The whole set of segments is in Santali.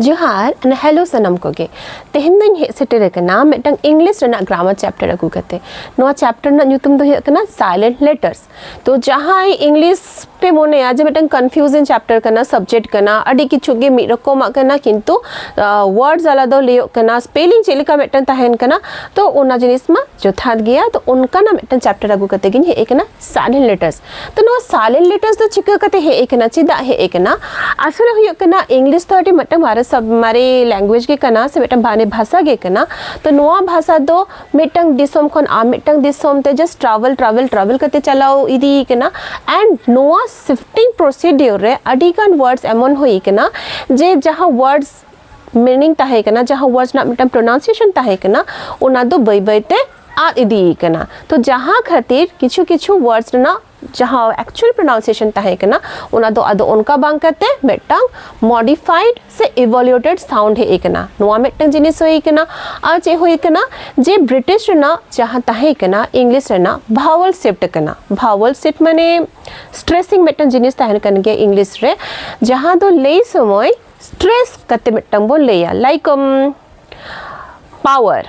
ᱡᱚᱦᱟᱨ ᱟᱨ ᱦᱮᱞᱳ ᱥᱟᱱᱟᱢ ᱠᱚᱜᱮ ᱛᱮᱦᱮᱧ ᱫᱚᱧ ᱦᱮᱡ ᱥᱮᱴᱮᱨ ᱟᱠᱟᱱᱟ ᱢᱤᱫᱴᱟᱝ ᱤᱝᱞᱤᱥ ᱨᱮᱱᱟᱜ ᱜᱨᱟᱢᱟᱨ ᱪᱮᱯᱴᱟᱨ ᱟᱹᱜᱩ ᱠᱟᱛᱮ ᱱᱚᱣᱟ ᱪᱮᱯᱴᱟᱨ ᱨᱮᱱᱟᱜ ᱧᱩᱛᱩᱢ ᱫᱚ ᱦᱩᱭᱩᱜ ᱠᱟᱱᱟ ᱥᱟᱭᱞᱮᱱᱴ ᱞᱮᱴᱟᱨᱥ ᱛᱚ ᱡᱟᱦᱟᱸᱭ ᱤᱝᱞᱤᱥ ᱯᱮ ᱢᱚᱱᱮᱭᱟ ᱡᱮ ᱢᱤᱫᱴᱟᱝ ᱠᱚᱱᱯᱷᱤᱭᱩᱡᱤᱝ ᱪᱮᱯᱴᱟᱨ ᱠᱟᱱᱟ ᱥᱟᱵᱡᱮᱠᱴ ᱠᱟᱱᱟ ᱟᱹᱰᱤ ᱠᱤᱪᱷᱩ ᱜᱮ ᱢᱤᱫ ᱨᱚᱠᱚᱢᱟᱜ ᱠᱟᱱᱟ ᱠᱤᱱᱛᱩ ᱣᱟᱨᱰᱥ ᱟᱞᱟᱫᱟ ᱞᱟᱹᱭᱚᱜ ᱠᱟᱱᱟ ᱥᱯᱮᱞᱤᱝ ᱪᱮᱫ ᱞᱮᱠᱟ ᱢᱤᱫᱴᱟᱝ ᱛᱟᱦᱮᱱ ᱠᱟᱱᱟ ᱛᱚ ᱚᱱᱟ ᱡᱤᱱᱤᱥ ᱢᱟ ᱡᱚᱛᱷᱟᱛ ᱜᱮᱭᱟ ᱛᱚ ᱚᱱᱠᱟᱱᱟᱜ ᱢᱤᱫᱴᱟᱝ ᱪᱮᱯᱴᱟᱨ ᱟᱹᱜᱩ ᱠᱟᱛᱮ ᱜᱤᱧ ᱦᱮᱡ ᱟᱠᱟᱱᱟ ᱥᱟᱭᱞᱮᱱᱴ ᱞᱮᱴᱟᱨᱥ ᱛᱚ ᱱᱚᱣᱟ ᱥᱟᱭᱞᱮᱱᱴ ᱞᱮᱴᱟᱨᱥ ᱫᱚ ᱪᱤᱠᱟᱹ ᱠᱟᱛᱮ ᱦᱮᱡ ᱟᱠᱟᱱᱟ ᱪᱮᱫᱟᱜ ᱦᱮᱡ ᱟᱠᱟᱱᱟ ᱟᱥᱚᱞᱮ ᱦᱩᱭᱩᱜ ᱠᱟᱱᱟ ᱤᱝᱞᱤᱥ ᱫᱚ ᱟᱹᱰᱤ ᱢᱤᱫᱴᱟᱝ ᱢᱟᱨᱮ ᱥᱟᱵ ᱢᱟᱨᱮ ᱞᱮᱝᱜᱩᱭᱮᱡᱽ ᱜᱮ ᱠᱟᱱᱟ ᱥᱮ ᱢᱤᱫᱴᱟᱝ ᱢᱟᱨᱮ ᱵᱷᱟᱥᱟ ᱜᱮ ᱠᱟᱱᱟ ᱛᱚ ᱱᱚᱣᱟ ᱵᱷᱟᱥᱟ ᱫᱚ ᱢᱤᱫᱴᱟᱝ ᱫᱤᱥᱚᱢ ᱠᱷᱚᱱ ᱟᱨ ᱢᱤᱫᱴᱟᱝ ᱫᱤᱥᱚᱢ ᱛᱮ ᱡᱟᱥᱴ ᱴᱨᱟᱵᱷᱮᱞ ᱴᱨᱟᱵᱷᱮᱞ ᱴᱨᱟᱵᱷᱮᱞ ᱠᱟᱛᱮ ᱪᱟᱞᱟᱣ ᱤᱫᱤ ᱠᱟᱱᱟ ᱮᱱᱰ ᱱᱚᱣᱟ ᱥᱤᱯᱷᱴᱤᱝ ᱯᱨᱚᱥᱤᱰᱤᱭᱳᱨ ᱨᱮ ᱟᱹᱰᱤ ᱜᱟᱱ ᱣᱟᱨᱰᱥ ᱮᱢᱚᱱ ᱦᱩᱭ ᱠᱟᱱᱟ ᱡᱮ ᱡᱟᱦᱟᱸ ᱣᱟᱨᱰᱥ ᱢᱤᱱᱤᱝ ᱛᱟᱦᱮᱸ ᱠᱟᱱᱟ ᱡᱟᱦᱟᱸ ᱣᱟᱨᱰᱥ ᱨᱮᱱᱟᱜ ᱢᱤᱫᱴᱟᱝ ᱯᱨᱚᱱᱟᱣᱩᱱᱥᱤᱭᱮᱥᱚᱱ ᱛᱟᱦᱮᱸ ᱠᱟᱱᱟ ᱚᱱᱟ ᱫᱚ ᱵᱟᱹᱭ ᱵᱟᱹᱭᱛᱮ ᱟᱫ ᱤᱫᱤ ᱠᱟᱱᱟ ᱛᱚ ᱡᱟᱦᱟᱸ ᱠᱷᱟᱹᱛᱤᱨ ᱠᱤᱪᱷᱩ ᱠᱤᱪᱷᱩ ᱣᱟᱨᱰᱥ ᱨᱮᱱᱟᱜ ᱡᱟᱦᱟᱸ ᱮᱠᱪᱩᱭᱟᱞ ᱯᱨᱚᱱᱟᱣᱩᱱᱥᱤᱭᱮᱥᱚᱱ ᱛᱟᱦᱮᱸ ᱠᱟᱱᱟ ᱚᱱᱟ ᱫᱚ ᱟᱫᱚ ᱚᱱᱠᱟ ᱵᱟᱝ ᱠᱟᱛᱮ ᱢᱤᱫᱴᱟᱝ ᱢᱚᱰᱤᱯᱷᱟᱭᱤᱰ ᱥᱮ ᱤᱵᱷᱚᱞᱩᱭᱮᱴᱮᱰ ᱥᱟᱣᱩᱱᱰ ᱦᱮᱡ ᱠᱟᱱᱟ ᱱᱚᱣᱟ ᱢᱤᱫᱴᱟᱝ ᱡᱤᱱᱤᱥ ᱦᱩᱭ ᱠᱟᱱᱟ ᱟᱨ ᱪᱮᱫ ᱦᱩᱭ ᱠᱟᱱᱟ ᱡᱮ ᱵᱨᱤᱴᱤᱥ ᱨᱮᱱᱟᱜ ᱡᱟᱦᱟᱸ ᱛᱟᱦᱮᱸ ᱠᱟᱱᱟ ᱤᱝᱞᱤᱥ ᱨᱮᱱᱟᱜ ᱵᱷᱟᱣᱚᱞ ᱥᱤᱯᱴ ᱠᱟᱱᱟ ᱵᱷᱟᱣᱚᱞ ᱥᱤᱯᱴ ᱢᱟᱱᱮ ᱥᱴᱨᱮᱥᱤᱝ ᱢᱤᱫᱴᱟᱝ ᱡᱤᱱᱤᱥ ᱛᱟᱦᱮᱸ ᱠᱟᱱ ᱜᱮᱭᱟ ᱤᱝᱞᱤᱥ ᱨᱮ ᱡᱟᱦᱟᱸ ᱫᱚ ᱞᱟᱹᱭ ᱥᱚᱢᱚᱭ ᱥᱴᱨᱮᱥ ᱠᱟᱛᱮ ᱢᱤᱫᱴᱟᱝ ᱵᱚᱱ ᱞᱟᱹᱭᱟ ᱞᱟᱭᱤᱠ ᱯᱟᱣᱟᱨ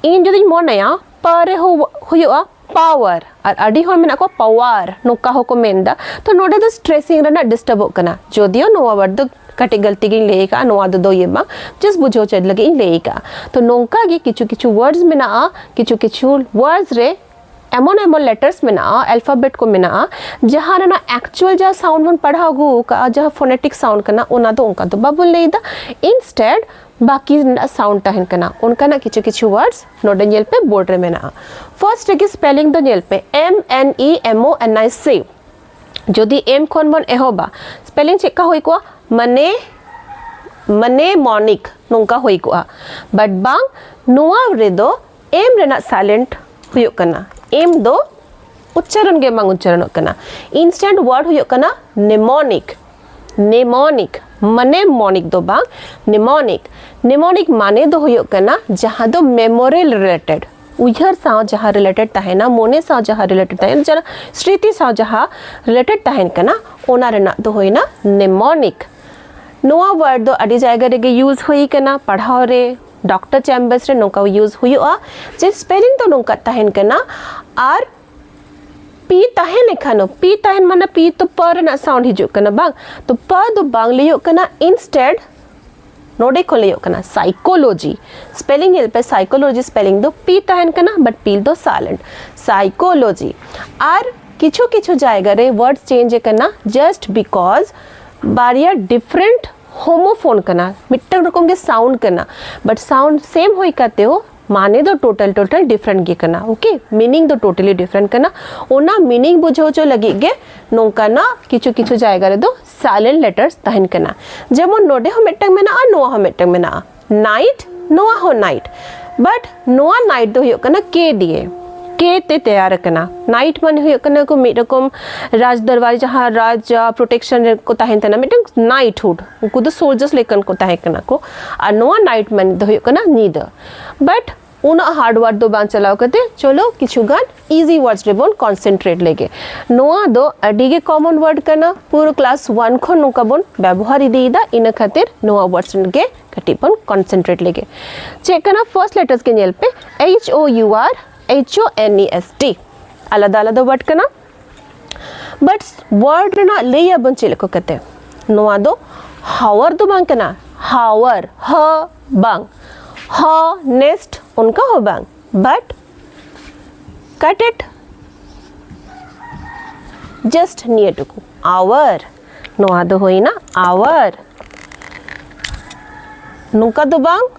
ᱤᱧ ᱡᱩᱫᱤᱧ ᱢᱚᱱᱮᱭᱟ ᱯᱟ ᱨᱮ ᱦᱩᱭᱩᱜᱼᱟ ᱯᱟᱣᱟᱨ ᱟᱨ ᱟᱹᱰᱤ ᱦᱚᱲ ᱢᱮᱱᱟᱜ ᱠᱚᱣᱟ ᱯᱟᱣᱟᱨ ᱱᱚᱝᱠᱟ ᱦᱚᱸᱠᱚ ᱢᱮᱱᱫᱟ ᱛᱚ ᱱᱚᱰᱮ ᱫᱚ ᱥᱴᱨᱮᱥᱤᱝ ᱨᱮᱱᱟᱜ ᱰᱤᱥᱴᱟᱨᱵᱚᱜ ᱠᱟᱱᱟ ᱡᱚᱫᱤᱭᱳ ᱱᱚᱣᱟ ᱣᱟᱨᱰ ᱫᱚ ᱠᱟᱹᱴᱤᱡ ᱜᱟᱹᱞᱛᱤ ᱜᱤᱧ ᱞᱟᱹᱭ ᱟᱠᱟᱫᱼᱟ ᱱᱚᱣᱟ ᱫᱚ ᱫᱚᱭᱮ ᱵᱟᱝ ᱡᱟᱥᱴ ᱵᱩᱡᱷᱟᱹᱣ ᱪᱮᱫ ᱞᱟᱹᱜᱤᱫ ᱤᱧ ᱞᱟᱹᱭ ᱟᱠᱟᱫᱼᱟ ᱛᱚ ᱱᱚᱝᱠᱟ ᱜᱮ ᱠᱤᱪᱷᱩ ᱠᱤᱪᱷᱩ ᱣᱟᱨᱰᱥ ᱢᱮᱱᱟᱜᱼᱟ ᱠᱤᱪᱷᱩ ᱠᱤᱪᱷᱩ ᱣᱟᱨᱰᱥ ᱨᱮ ᱮᱢᱚᱱ ᱮᱢᱚᱱ ᱞᱮᱴᱟᱨᱥ ᱢᱮᱱᱟᱜᱼᱟ ᱟᱞᱯᱷᱟᱵᱮᱴ ᱠᱚ ᱢᱮᱱᱟᱜᱼᱟ ᱡᱟᱦᱟᱸ ᱨᱮᱱᱟᱜ ᱮᱠᱪᱩᱭᱟᱞ ᱡᱟᱦᱟᱸ ᱥᱟᱣᱩᱱᱰ ᱵᱚᱱ ᱯᱟᱲᱦᱟᱣ ᱟᱹᱜᱩ ᱟᱠᱟᱫᱼᱟ ᱡᱟᱦᱟᱸ ᱯᱷᱳᱱᱮᱴᱤᱠ ᱥᱟᱣᱩᱱᱰ ᱠᱟᱱᱟ ᱚᱱᱟ ᱫᱚ ᱚᱱᱠᱟ ᱫᱚ ᱵᱟᱵᱚᱱ ᱞᱟᱹᱭᱫᱟ ᱤᱱᱥᱴᱮᱰ ᱵᱟᱹᱠᱤ ᱨᱮᱱᱟᱜ ᱥᱟᱣᱩᱱᱰ ᱛᱟᱦᱮᱱ ᱠᱟᱱᱟ ᱚᱱᱠᱟᱱᱟᱜ ᱠᱤᱪᱷᱩ ᱠᱤᱪᱷᱩ ᱣᱟᱨᱰᱥ ᱱᱚᱰᱮ ᱧᱮᱞ ᱯᱮ ᱵᱳᱨᱰ ᱨᱮ ᱢᱮᱱᱟᱜᱼᱟ ᱯᱷᱟᱨᱥᱴ ᱨᱮᱜᱮ ᱥᱯᱮᱞᱤᱝ ᱫᱚ ᱧᱮᱞ ᱯᱮ ᱮᱢ ᱮᱱ ᱤ ᱮᱢ ᱳ ᱮᱱ ᱟᱭ ᱥᱤ ᱡᱩᱫᱤ ᱮᱢ ᱠᱷᱚᱱ ᱵᱚᱱ ᱮᱦᱚᱵᱟ ᱥᱯᱮᱞᱤᱝ ᱪᱮᱫ ᱞᱮᱠᱟ ᱦᱩᱭ ᱠᱚᱜᱼᱟ ᱢᱟᱱᱮ ᱢᱟᱱᱮ ᱢᱚᱱᱤᱠ ᱱᱚᱝᱠᱟ ᱦᱩᱭ ᱠᱚᱜᱼᱟ ᱵᱟᱴ ᱵᱟᱝ ᱱᱚᱣᱟ ᱨᱮᱫᱚ ᱮᱢ ᱨᱮᱱᱟᱜ ᱥᱟᱭᱞᱮᱱᱴ ᱦᱩᱭᱩᱜ ᱠᱟᱱᱟ ᱮᱢ ᱫᱚ ᱩᱪᱪᱟᱨᱚᱱ ᱜᱮ ᱵᱟᱝ ᱩᱪᱪᱟᱨᱚᱱᱚᱜ ᱠᱟᱱᱟ ᱤᱱᱥᱴᱮᱱᱴ ᱣᱟᱨᱰ ᱦᱩᱭᱩᱜ ᱠᱟᱱᱟ ᱱᱮᱢᱚᱱᱤᱠ ᱱᱮᱢᱚᱱᱤᱠ ᱢᱟᱱᱮ ᱢᱚᱱᱤᱠ ᱫᱚ ᱵᱟᱝ ᱱᱮᱢᱚᱱᱤᱠ ᱱᱮᱢᱚᱱᱤᱠ ᱢᱟᱱᱮ ᱫᱚ ᱦᱩᱭᱩᱜ ᱠᱟᱱᱟ ᱡᱟᱦᱟᱸ ᱫᱚ ᱢᱮᱢᱳᱨᱤ ᱨᱤᱞᱮᱴᱮᱰ ᱩᱭᱦᱟᱹᱨ ᱥᱟᱶ ᱡᱟᱦᱟᱸ ᱨᱤᱞᱮᱴᱮᱰ ᱛᱟᱦᱮᱱᱟ ᱢᱚᱱᱮ ᱥᱟᱶ ᱡᱟᱦᱟᱸ ᱨᱤᱞᱮᱴᱮᱰ ᱛᱟᱦᱮᱱᱟ ᱡᱟᱦᱟᱸ ᱥᱨᱤᱛᱤ ᱥᱟᱶ ᱡᱟᱦᱟᱸ ᱨᱤᱞᱮᱴᱮᱰ ᱛᱟᱦᱮᱱ ᱠᱟᱱᱟ ᱚᱱᱟ ᱨᱮᱱᱟᱜ ᱫᱚ ᱦᱩᱭᱱᱟ ᱱᱮᱢᱚᱱᱤᱠ ᱱᱚᱣᱟ ᱣᱟᱨᱰ ᱫᱚ ᱟᱹᱰᱤ ᱡᱟᱭᱜᱟ ᱨᱮᱜᱮ ᱭᱩᱡᱽ ᱦᱩᱭ ᱠᱟᱱᱟ ᱯᱟᱲᱦᱟᱣ ᱨᱮ ᱰᱚᱠᱴᱚᱨ ᱪᱮᱢᱵᱟᱨᱥ ᱨᱮ ᱱᱚᱝᱠᱟ ᱭᱩᱡᱽ ᱦᱩᱭᱩᱜᱼᱟ ᱡᱮ ᱥᱯᱮᱞᱤᱝ ᱫᱚ ᱱᱚᱝᱠᱟ ᱛᱟᱦᱮᱱ ᱠᱟᱱᱟ ᱟᱨ ᱯᱤ ᱛᱟᱦᱮᱱ ᱮᱠᱷᱟᱱ ᱯᱤ ᱛᱟᱦᱮᱱ ᱢᱟᱱᱮ ᱯᱤ ᱛᱚ ᱯ ᱨᱮᱱᱟᱜ ᱥᱟᱣᱩᱱᱰ ᱦᱤᱡᱩᱜ ᱠᱟᱱᱟ ᱵᱟᱝ ᱛᱚ ᱯ ᱫᱚ ᱵᱟᱝ ᱞᱟᱹᱭᱚᱜ ᱠᱟᱱᱟ ᱤᱱᱥᱴᱮᱰ ᱱᱚᱰᱮ ᱠᱷᱚᱱ ᱞᱟᱹᱭᱚᱜ ᱠᱟᱱᱟ ᱥᱟᱭᱠᱳᱞᱚᱡᱤ ᱥᱯᱮᱞᱤᱝ ᱧᱮᱞ ᱯᱮ ᱥᱟᱭᱠᱳᱞᱚᱡᱤ ᱥᱯᱮᱞᱤᱝ ᱫᱚ ᱯᱤ ᱛᱟᱦᱮᱱ ᱠᱟᱱᱟ ᱵᱟᱴ ᱯᱤ ᱫᱚ ᱥᱟᱭᱞᱮᱱᱴ ᱥᱟᱭᱠᱳᱞᱚᱡᱤ ᱟᱨ ᱠᱤᱪᱷᱩ ᱠᱤᱪᱷᱩ ᱡᱟᱭᱜᱟ ᱨᱮ ᱣᱟᱨᱰ ᱪᱮᱧᱡᱽ ᱠᱟᱱᱟ ᱡᱟᱥᱴ ᱵᱤᱠᱚᱡᱽ ᱵᱟᱨᱭᱟ ᱰᱤᱯᱷᱨᱮᱱᱴ ᱦᱳᱢᱳᱯᱷᱳᱱ ᱠᱟᱱᱟ ᱢᱤᱫᱴᱟᱝ ᱨᱚᱠᱚᱢ ᱜᱮ ᱥᱟᱣᱩᱱᱰ ᱠᱟᱱᱟ ᱵᱟᱴ ᱥᱟᱣᱩᱱᱰ ᱥᱮᱢ ᱦᱩᱭ ᱠᱟᱛᱮ ᱦᱚᱸ ᱢᱟᱱᱮ ᱫᱚ ᱴᱳᱴᱟᱞ ᱴᱳᱴᱟᱞ ᱰᱤᱯᱷᱨᱮᱱᱴ ᱜᱮ ᱠᱟᱱᱟ ᱳᱠᱮ ᱢᱤᱱᱤᱝ ᱫᱚ ᱴᱳᱴᱟᱞᱤ ᱰᱤᱯᱷᱨᱮᱱᱴ ᱠᱟᱱᱟ ᱚᱱᱟ ᱢᱤᱱᱤᱝ ᱵᱩᱡᱷᱟᱹᱣ ᱦᱚᱪᱚ ᱞᱟᱹᱜᱤᱫ ᱜᱮ ᱱᱚᱝᱠᱟᱱᱟᱜ ᱠᱤᱪᱷᱩ ᱠᱤᱪᱷᱩ ᱡᱟᱭᱜᱟ ᱨᱮᱫᱚ ᱥᱟᱭᱞᱮᱱᱴ ᱞᱮᱴᱟᱨᱥ ᱛᱟᱦᱮᱱ ᱠᱟᱱᱟ ᱡᱮᱢᱚᱱ ᱱᱚᱰᱮ ᱦᱚᱸ ᱢᱤᱫᱴᱟᱝ ᱢᱮᱱᱟᱜᱼᱟ ᱱᱚᱣᱟ ᱦᱚᱸ ᱢᱤᱫᱴᱟᱝ ᱢᱮᱱᱟᱜᱼᱟ night ᱱᱚᱣᱟ ᱦᱚᱸ night but ᱱᱚᱣᱟ night ᱫᱚ ᱦᱩᱭᱩᱜ ᱠᱟᱱᱟ k ᱫᱤᱭᱮ k ᱛᱮ ᱛᱮᱭᱟᱨ ᱟᱠᱟᱱᱟ night ᱢᱟᱱᱮ ᱦᱩᱭᱩᱜ ᱠᱟᱱᱟ ᱠᱚ ᱢᱤᱫ ᱨᱚᱠᱚᱢ ᱨᱟᱡᱽ ᱫᱚᱨᱵᱟᱨ ᱡᱟᱦᱟᱸ ᱨᱟᱡᱽ ᱯᱨᱚᱴᱮᱠᱥᱚᱱ ᱨᱮ ᱠᱚ ᱛᱟᱦᱮᱱ ᱛᱟᱦᱮᱱᱟ ᱢᱤᱫᱴᱟᱝ ᱱᱟᱭᱤᱴᱦᱩᱰ ᱩᱱᱠᱩ ᱫᱚ ᱥᱳᱞᱡᱟᱨᱥ ᱞᱮᱠᱟᱱ ᱠᱚ ᱛᱟᱦᱮᱸ ᱠᱟᱱᱟ ᱠᱚ ᱟᱨ ᱱᱚᱣᱟ night ᱢᱟᱱᱮ ᱫᱚ ᱦᱩᱭᱩᱜ ᱠᱟᱱᱟ ᱧᱤᱫᱟᱹ but ᱩᱱᱟᱹᱜ ᱦᱟᱨᱰ ᱣᱟᱨᱰ ᱫᱚ ᱵᱟᱝ ᱪᱟᱞᱟᱣ ᱠᱟᱛᱮ ᱪᱚᱞᱚ ᱠᱤᱪᱷᱩ ᱜᱟᱱ ᱤᱡᱤ ᱣᱟᱨᱰᱥ ᱨᱮᱵᱚᱱ ᱠᱚᱱᱥᱮᱱᱴᱨᱮᱴ ᱞᱮᱜᱮ ᱱᱚᱣᱟ ᱫᱚ ᱟᱹᱰᱤ ᱜᱮ ᱠᱚᱢᱚᱱ ᱣᱟᱨᱰ ᱠᱟᱱᱟ ᱯᱩᱨᱟᱹ ᱠᱞᱟᱥ ᱣᱟᱱ ᱠᱷᱚᱱ ᱱᱚᱝᱠᱟ ᱵᱚᱱ ᱵᱮᱵᱚᱦᱟᱨ ᱤᱫᱤᱭᱮᱫᱟ ᱤᱱᱟᱹ ᱠᱷᱟᱹᱛᱤᱨ ᱱᱚᱣᱟ ᱣᱟᱨᱰᱥ ᱜᱮ ᱠᱟᱹᱴᱤᱡ ᱵᱚᱱ ᱠᱚᱱᱥᱮᱱᱴᱨᱮᱴ ᱞᱮᱜᱮ ᱪᱮᱫ ᱠᱟᱱᱟ ᱯᱷᱟᱨᱥᱴ ᱞᱮᱴᱟᱨᱥ ᱜᱮ ᱧᱮᱞ ᱯᱮ H O U R H O N E S T ᱟᱞᱟᱫᱟ ᱟᱞᱟᱫᱟ ᱣᱟᱨᱰ ᱠᱟᱱᱟ ᱵᱟᱴ ᱣᱟᱨᱰ ᱨᱮᱱᱟᱜ ᱞᱟᱹᱭ ᱟᱵᱚᱱ ᱪᱮᱫ ᱞᱮᱠᱟ ᱠᱟᱛᱮ ᱱᱚᱣᱟ ᱫᱚ ᱦᱟᱣᱟᱨ ᱫᱚ ᱵᱟᱝ ᱠᱟᱱᱟ ᱦᱟᱣᱟᱨ ᱦ ᱵᱟᱝ ᱦ ᱱᱮᱥᱴ ᱚᱱᱠᱟ ᱦᱚᱸ ᱵᱟᱝ ᱵᱟᱴ cut it just near to hour ᱱᱚᱣᱟ ᱫᱚ ᱦᱩᱭᱱᱟ hour ᱱᱚᱝᱠᱟ ᱫᱚ ᱵᱟᱝ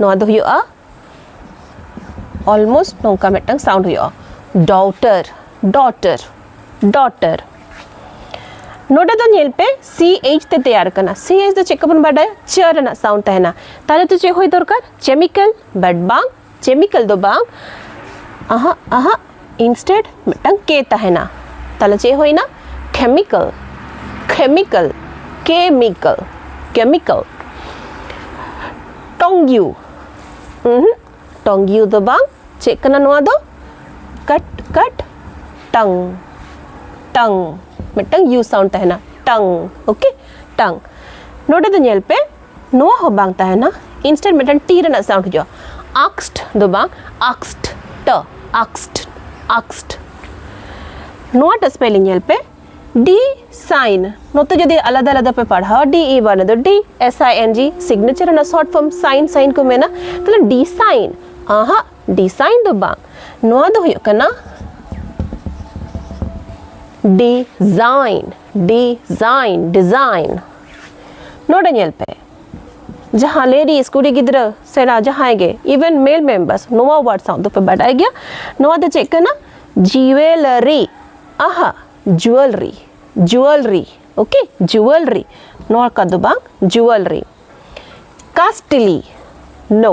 ᱱᱚᱣᱟ ᱫᱚ ᱦᱩᱭᱩᱜᱼᱟ ᱚᱞᱢᱳᱥᱴ ᱱᱚᱝᱠᱟ ᱢᱤᱫᱴᱟᱝ ᱥᱟᱣᱩᱱᱰ ᱦᱩᱭᱩᱜᱼᱟ ᱰᱚᱴᱟᱨ ᱰᱚᱴᱟᱨ ᱰᱚᱴᱟᱨ ᱱᱚᱰᱮ ᱫᱚ ᱧᱮᱞ ᱯᱮ ᱥᱤ ᱮᱭᱤᱪ ᱛᱮ ᱛᱮᱭᱟᱨ ᱠᱟᱱᱟ ᱥᱤ ᱮᱭᱤᱪ ᱫᱚ ᱪᱮᱫ ᱠᱚᱵᱚᱱ ᱵᱟᱰᱟᱭᱟ ᱪᱮ ᱨᱮᱱᱟᱜ ᱥᱟᱣᱩᱱᱰ ᱛᱟᱦᱮᱱᱟ ᱛᱟᱦᱞᱮ ᱛᱚ ᱪᱮᱫ ᱦᱩᱭ ᱫᱚᱨᱠᱟᱨ ᱠᱮᱢᱤᱠᱮᱞ ᱵᱟᱴ ᱵᱟᱝ ᱠᱮᱢᱤᱠᱮᱞ ᱫᱚ ᱵᱟᱝ ᱟᱦᱟᱜ ᱟᱦᱟᱜ ᱤᱱᱥᱴᱮᱰ ᱢᱤᱫᱴᱟᱝ ᱠᱮ ᱛᱟᱦᱮᱱᱟ ᱛᱟᱦᱚᱞᱮ ᱪᱮᱫ ᱦᱩᱭᱱᱟ ᱠᱮᱢᱤᱠᱮᱞ ᱠᱮᱢᱤᱠᱮᱞ ᱠᱮᱢᱤᱠᱮᱞ ᱠᱮᱢᱤᱠᱮᱞ ᱴᱚᱝᱜᱤᱭᱩ ᱴᱚᱝᱜᱤᱭᱩ ᱫᱚ ᱵᱟᱝ ᱪᱮᱫ ᱠᱟᱱᱟ ᱱᱚᱣᱟ ᱫᱚ ᱠᱟᱴ ᱠᱟᱴ ᱴᱟᱝ ᱴᱟᱝ ᱢᱤᱫᱴᱟᱝ ᱤᱭᱩ ᱥᱟᱣᱩᱱᱰ ᱛᱟᱦᱮᱱᱟ ᱴᱟᱝ ᱳᱠᱮ ᱴᱟᱝ ᱱᱚᱰᱮ ᱫᱚ ᱧᱮᱞ ᱯᱮ ᱱᱚᱣᱟ ᱦᱚᱸ ᱵᱟᱝ ᱛᱟᱦᱮᱱᱟ ᱤᱱᱥᱴᱮᱱᱴ ᱢᱤᱫᱴᱟᱝ ᱴᱤ ᱨᱮᱱᱟᱜ ᱥᱟᱣᱩᱱᱰ ᱦᱤᱡᱩᱜᱼᱟ ᱟᱠᱥᱴ ᱫᱚ ᱵᱟᱝ ᱟᱠᱥᱴ ᱴ ᱟᱠᱥᱴ ᱟᱠᱥᱴ ᱱᱚᱣᱟᱴᱟᱜ ᱥᱯᱮᱞᱤᱝ ᱧᱮᱞ ᱯᱮ ᱰᱤ ᱥᱟᱭᱤᱱ ᱱᱚᱛᱮ ᱡᱩᱫᱤ ᱟᱞᱟᱫᱟ ᱟᱞᱟᱫᱟ ᱯᱮ ᱯᱟᱲᱦᱟᱣᱟ ᱰᱤ ᱤ ᱵᱟᱱᱟ ᱫᱚ ᱰᱤ S I N G signature ᱨᱮᱱᱟᱜ ᱥᱚᱨᱴ ᱯᱷᱚᱨᱢ ᱥᱟᱭᱤᱱ ᱥᱟᱭᱤᱱ ᱠᱚ ᱢᱮᱱᱟ ᱛᱟᱦᱞᱮ ᱰᱤ ᱥᱟᱭᱤᱱ ᱟᱦᱟ ᱰᱤ ᱥᱟᱭᱤᱱ ᱫᱚ ᱵᱟᱝ ᱱᱚᱣᱟ ᱫᱚ ᱦᱩᱭᱩᱜ ᱠᱟᱱᱟ ᱰᱤᱡᱟᱭᱤᱱ ᱰᱤᱡᱟᱭᱤᱱ ᱰᱤᱡᱟᱭᱤᱱ ᱱᱚᱰᱮ ᱧᱮᱞ ᱯᱮ ᱡᱟᱦᱟᱸ ᱞᱮᱰᱤᱥ ᱠᱩᱲᱤ ᱜᱤᱫᱽᱨᱟᱹ ᱥᱮᱬᱟ ᱡᱟᱦᱟᱸᱭ ᱜᱮ ᱤᱵᱷᱮᱱ ᱢᱮᱞ ᱢᱮᱢᱵᱟᱨᱥ ᱱᱚᱣᱟ ᱣᱟᱨᱰ ᱥᱟᱶ ᱫᱚᱯᱮ ᱵᱟᱰᱟᱭ ᱜᱮᱭᱟ ᱱᱚᱣᱟ ᱫᱚ ᱪᱮᱫ ᱠᱟᱱᱟ ᱡᱩᱣᱮᱞᱟᱨᱤ ᱟᱦᱟ ᱡᱩᱣᱮᱞᱨᱤ ᱡᱩᱣᱮᱞᱨᱤ ᱳᱠᱮ ᱡᱩᱣᱮᱞᱨᱤ ᱱᱚᱣᱟ ᱠᱚᱫᱚ ᱵᱟᱝ ᱡᱩᱣᱮᱞᱨᱤ ᱠᱟᱥᱴᱞᱤ ᱱᱳ